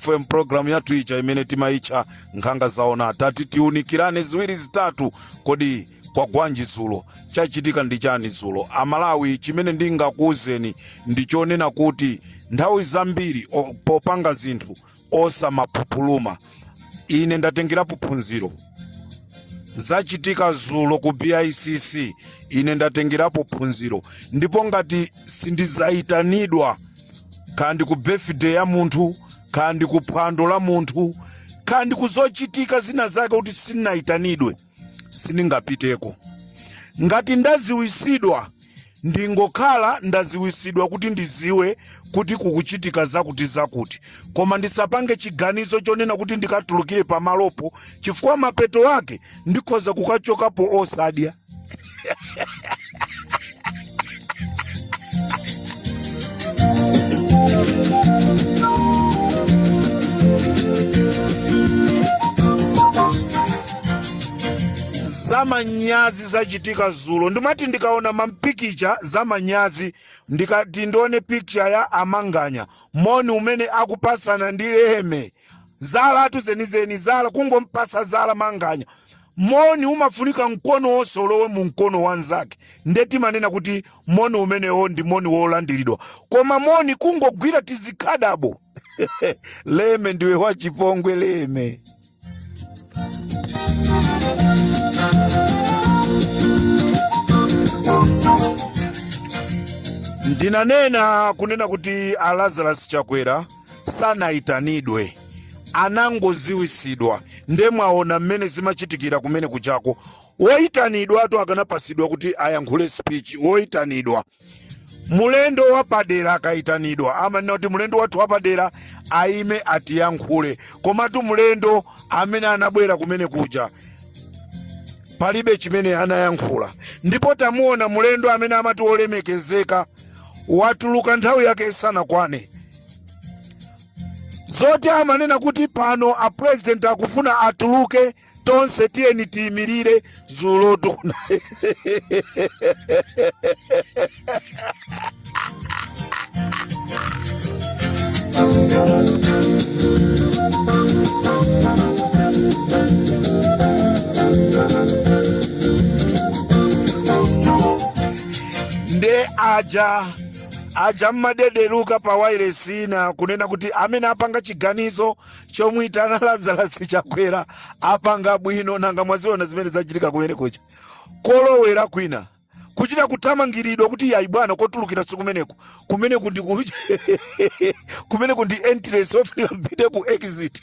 fm program yathu ija imene timayitcha nkhanga zaona tati tiunikirane ziwiri zitatu kodi kwagwanji dzulo chachitika ndi chani dzulo amalawi chimene ndingakuwuzeni ndi chonena kuti nthawi zambiri o- popanga zinthu osamapupuluma ine ndatengerapo phunziro zachitika dzulo ku bicc ine ndatengerapo phunziro ndipo ngati sindizaitanidwa kaya ndi ku birthday ya munthu kaya ndi ku phwando la munthu kaya ndi kuzochitika zina zake kuti sinayitanidwe sindingapiteko ngati ndaziwisidwa ndingokhala ndaziwisidwa kuti ndiziwe kuti kukuchitika zakuti zakuti koma ndisapange chiganizo chonena kuti ndikatulukire pamalopo chifukwa mapeto ake ndikhoza kukachokapo osadya zamanyazi zachitika zulo ndimati ndikaona mampikicha zamanyazi ndikati ndione pikicha ya amanganya moni umene akupasana ndi leme zalatu zenizeni zala kungompasa zala manganya Moni umafunika mkono wonse ulowe mu mkono wa mnzake, nde timanena kuti moni umenewo ndi moni wolandiridwa. Koma moni kungogwira tizikhadabo Leme ndiwe wachipongwe Leme. Ndinanena kunena kuti a Lazarus Chakwera sanayitanidwe anangoziwisidwa nde mwaona mmene zimachitikira kumene kujako woyitanidwatu akanapasidwa kuti ayankhule speech woyitanidwa mulendo wapadera akayitanidwa amanena kuti mulendo wathu wapadera ayime atiyankhule komatu mulendo amene anabwera kumene kuja palibe chimene anayankhula ndipo tamuona mulendo amene amati wolemekezeka watuluka nthawi yake isanakwane zoti amanena kuti pano a president akufuna atuluke tonse tiyeni tiyimirire zulotu na nde aja aja mmadedeluka pa wailesi ina kunena kuti amene apanga chiganizo chomuyitana Lazarus Chakwera apanga bwino nanga mwaziona zimene zachitika kumene kuja kolowera kwina kuchita kuthamangiridwa kuti yayi bwana kotulukira sikumeneku kumeneku ndi ku- kumeneku ndi entrance ofika mpite ku exit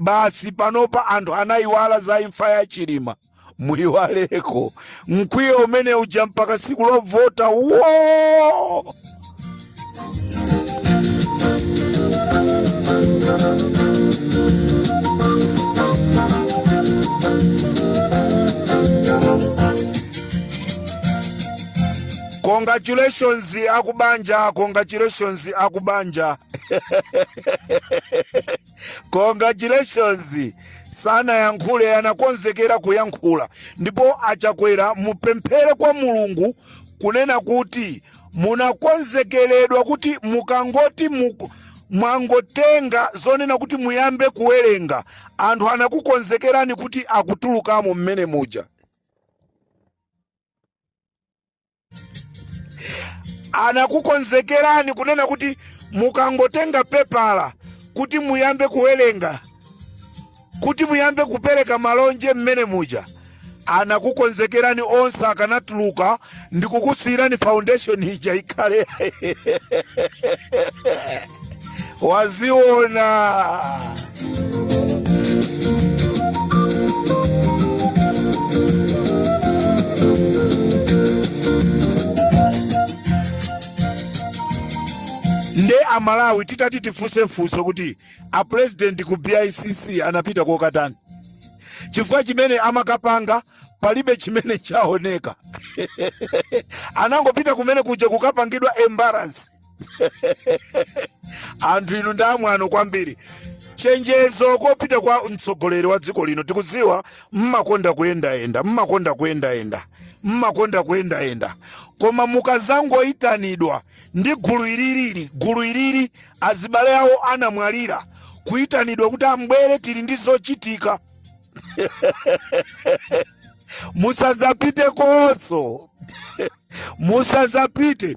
basi panopa anthu anayiwala za imfa ya chilima muyiwaleko mkwiyo umene uja mpaka siku lovota wo congratulations akubanja congratulations akubanja congratulations sanayankhule anakonzekera kuyankhula ndipo achakwera mupemphere kwa mulungu kunena kuti munakonzekeredwa kuti mukangoti muku mwangotenga zonena kuti muyambe kuwerenga anthu anakukonzekerani kuti akutulukamo mmene muja anakukonzekerani kunena kuti mukangotenga pepala kuti muyambe kuwerenga kuti muyambe kupereka malonje mmene muja anakukonzekerani onse akanatuluka ndikukusiyirani foundation ija ikhale waziona nde amalawi titati tifunse funso kuti apurezidenti ku bicc anapita kokatani chifukwa chimene amakapanga palibe chimene chaoneka anangopita kumene kuja kukapangidwa embarrass anthu inu ndi amwano kwambiri chenjezo kopita kwa mtsogoleri wa dziko lino tikudziwa mmakonda kuyendayenda mmakonda kuyendayenda mmakonda kuyendayenda koma mukazangoyitanidwa ndi gulu ililili gulu ilili azibale awo anamwalira kuyitanidwa kuti ambwere tili ndi zochitika musazapitekonso musazapite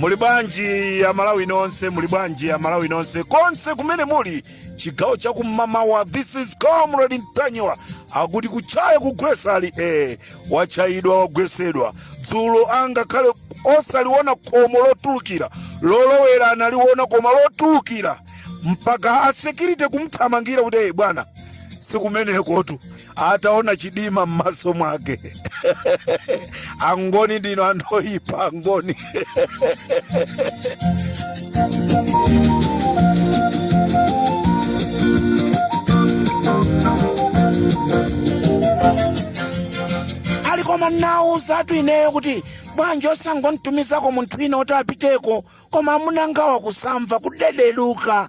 muli bwanji amalawi nonse muli bwanji amalawi nonse konse kumene muli chigawo cha kum'mamawa this is comrade mtanyiwa akuti kutchaya kugwesa ali ee watchayidwa wagwesedwa dzulo angakhale osaliona khomo lotulukira lolowera analiona koma lotulukira mpaka a security kumthamangira kuti ee bwana sikumenekotu ataona chidima m'maso mwake angoni ndino anthu oyipa angoni ali koma nawauzatu ineyo kuti bwanji osangonditumizako munthu wina oti apiteko koma amunangawa kusamva kudedeluka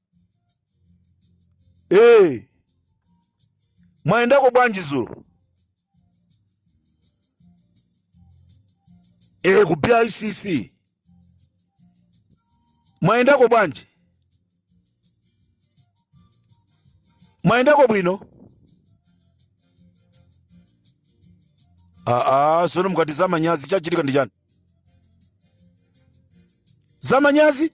Hey, mwaendako bwanji zulo? Hey, ku BICC mwaendako bwanji? Mwaendako bwino? Aa, sono mukati zamanyazi chachitika ndi chani? Zamanyazi?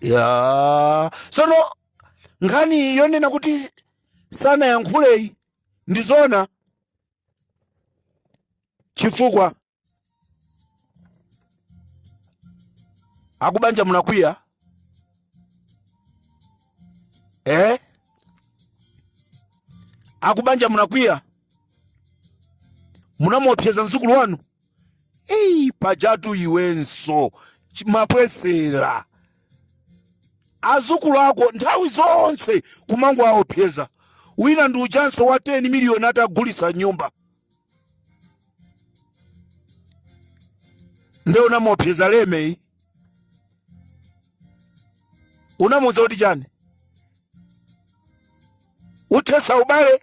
ya sono nkhani yonena kuti sanayankhuleyi ndi zona chifukwa akubanja munakwiya eh? akubanja munakwiya munamuopseza mzukulu wanu pajatu iwenso ch- mapwesera azukulu ako nthawi zonse kumangowaopseza wina ndi uchanso wa 10 miliyoni atagulisa nyumba nde unamuopseza lemeyi unamuuza kuti chani uthetsa ubale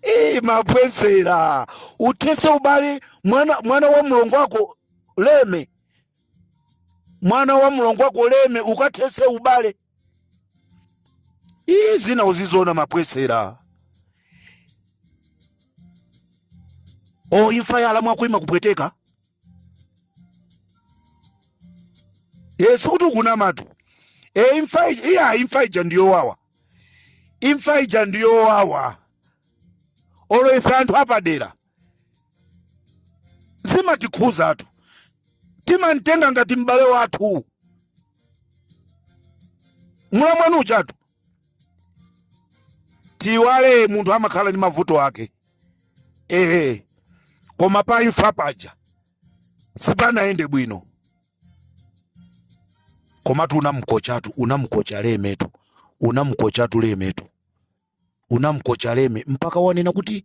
Eh, mapwesera uthetse ubale mwana, mwana wa mlongo wako leme mwana wa mlongo wako leme ukathetse ubale iyi zina uziziona mapwesera o imfa ya alamu ako ima kupweteka e sikuti ukunamatu e imfa ija iya imfa ija ndiyowawa imfa ija ndiyowawa olo ife anthu apadera zimatikhuzatu timamtenga ngati m'bale wathu mulamwanu uchatu tiwale munthu amakhala ndi mavuto ake ehe koma pa imfa paja sipanayende bwino komatu unamkochatu unamkocha lemetu unamkochatu lemetu unamkocha leme mpaka wanena kuti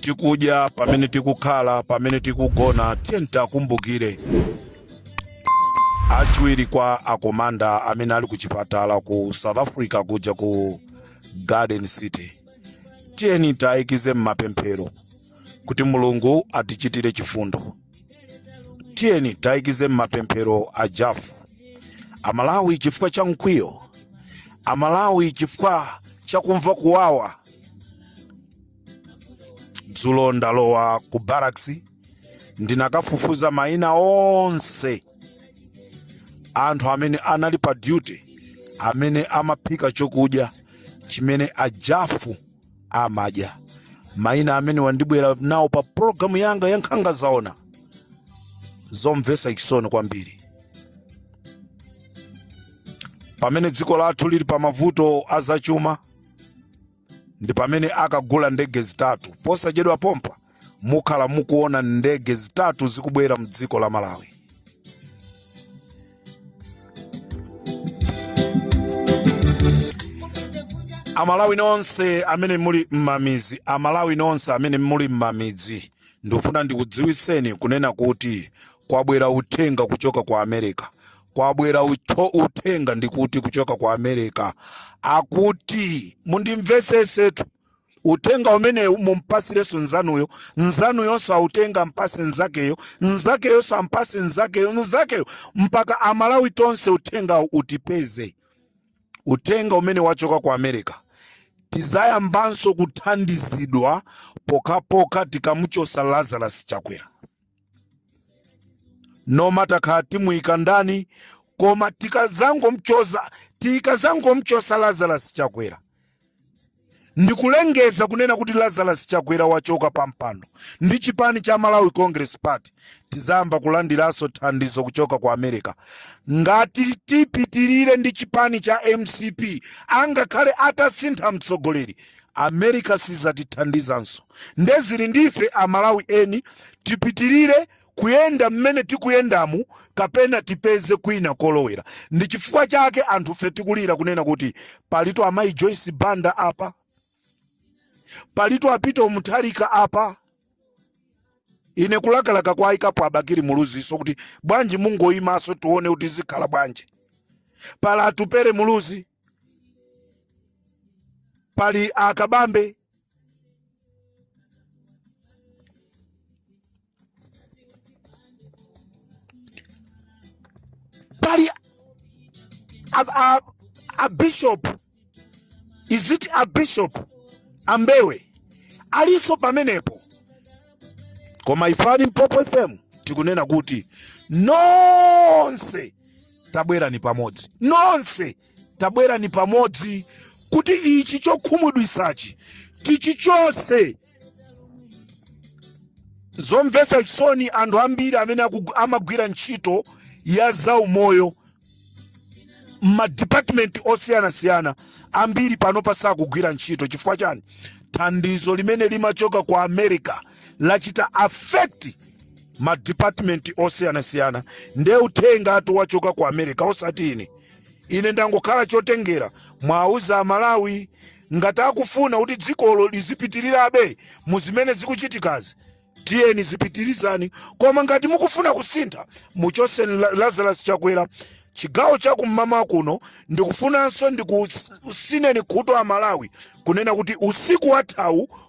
tikudya pamene tikukhala pamene tikugona tiyeni tiwakumbukire achiwiri kwa akomanda amene ali ku chipatala ku south africa kuja ku garden city tiyeni tiwaikize m'mapemphero kuti mulungu atichitire chifundo tiyeni tiwayikize m'mapemphero a jafu amalawi chifukwa cha mkwiyo amalawi chifukwa cha kumva kuwawa dzulo ndalowa ku barracks ndinakafufuza mayina onse anthu amene anali pa duty amene amaphika chokudya chimene a jafu amadya maina amene ndibwera nawo pa pologalamu yanga ya nkhanga zaona zomvetsa chisoni kwambiri pamene dziko lathu lili pa mavuto a zachuma ndi pamene akagula ndege zitatu posachedwa pompa mukhala mukuona ndege zitatu zikubwera mdziko la malawi amalawi nonse amene muli m'mamizi amalawi nonse amene muli m'mamidzi ndifuna ndikudziwiseni kunena kuti kwabwera uthenga kuchoka ku america kwabwera uthenga ndikuti kuchoka ku america akuti mundimvesesetu uthenga umenewu mumpasirenso nzanuyo nzanuyonso autenga mpase nzakeyo nzakeyonso ampase nzakeyo nzakeyo mpaka amalawi tonse uthengawo utipeze uthenga umene wachoka ku america tizayambanso kuthandizidwa pokhapokha tikamuchosa lazarus chakwera no matter kaya timuyika ndani koma tikazangomchoza tikazangomchosa lazarus chakwera ndikulengeza kunena kuti lazarus chakwera wachoka pampando ndi chipani cha malawi congress party tizayamba kulandiranso thandizo kuchoka ku america ngati tipitirire ndi chipani cha mcp angakhale atasintha mtsogoleri America sizatithandizanso nde zili ndi ife a Malawi eni tipitilire kuyenda mmene tikuyendamu kapena tipeze kwina kolowera. Ndichifukwa chake anthufe tikulira kunena kuti palitu amayi Joyce Banda apa, palitu a Peter Mutharika apa, ine kulakalaka kwayikapo a Bakili Muluzinso kuti bwanji mungoyimanso tiwone kuti zikhala bwanji, pali Atupele Muluzi, pali akabambe pali a, a, a bishop is it a bishop a Mbewe aliso pamenepo koma ife a Limpopo fm tikunena kuti nonse tabwerani pamodzi nonse tabwerani pamodzi kuti ichi chokhumudwisachi tichichose zomvesa chisoni anthu ambiri amene amagwira ntchito ya zaumoyo madipatimenti osiyanasiyana ambiri panopa sakugwira ntchito chifukwa chani thandizo limene limachoka ku america lachita affect ma department osiyanasiyana nde uthengatu wachoka ku america osati ine ine ndangokhala chotengera muwauze amalawi ngati akufuna kuti dzikolo lizipitirirabe mu zimene zikuchitikazi tiyeni zipitirizani koma ngati mukufuna kusintha muchose La- lazarus chakwera chigawo chakumamawa kuno ndikufunanso ndikusineni khutu amalawi kunena kuti usiku wathawu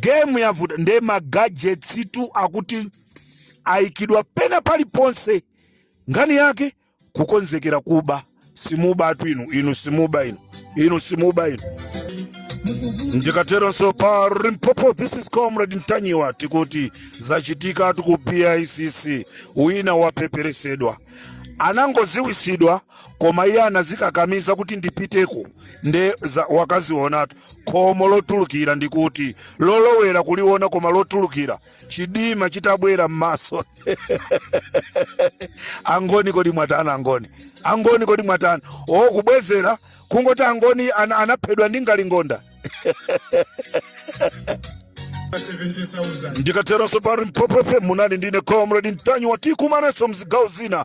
game yavuta nde magadgetstu akuti aikidwa pena paliponse ngani yake kukonzekera kuba simubatu inu inu simuba inu inu simuba inu ndikateronso pa Limpopo this is comrade ntanyiwa tikuti zachitikatu ku bicc wina wapeperesedwa anangoziwisidwa koma iye anazikakamiza kuti ndipiteko nde za- wakazionatu khomo lotulukira ndikuti lolowera kuliona koma lotulukira chidima chitabwera m'maso angoni kodi mwatani angoni angoni kodi mwatani osabwezera kungoti angoni ana, anaphedwa ndi ngalingonda. ndikateronso pa Limpopo fm munali ndine comrade ntanyiwa tikumanaso mzigawo zina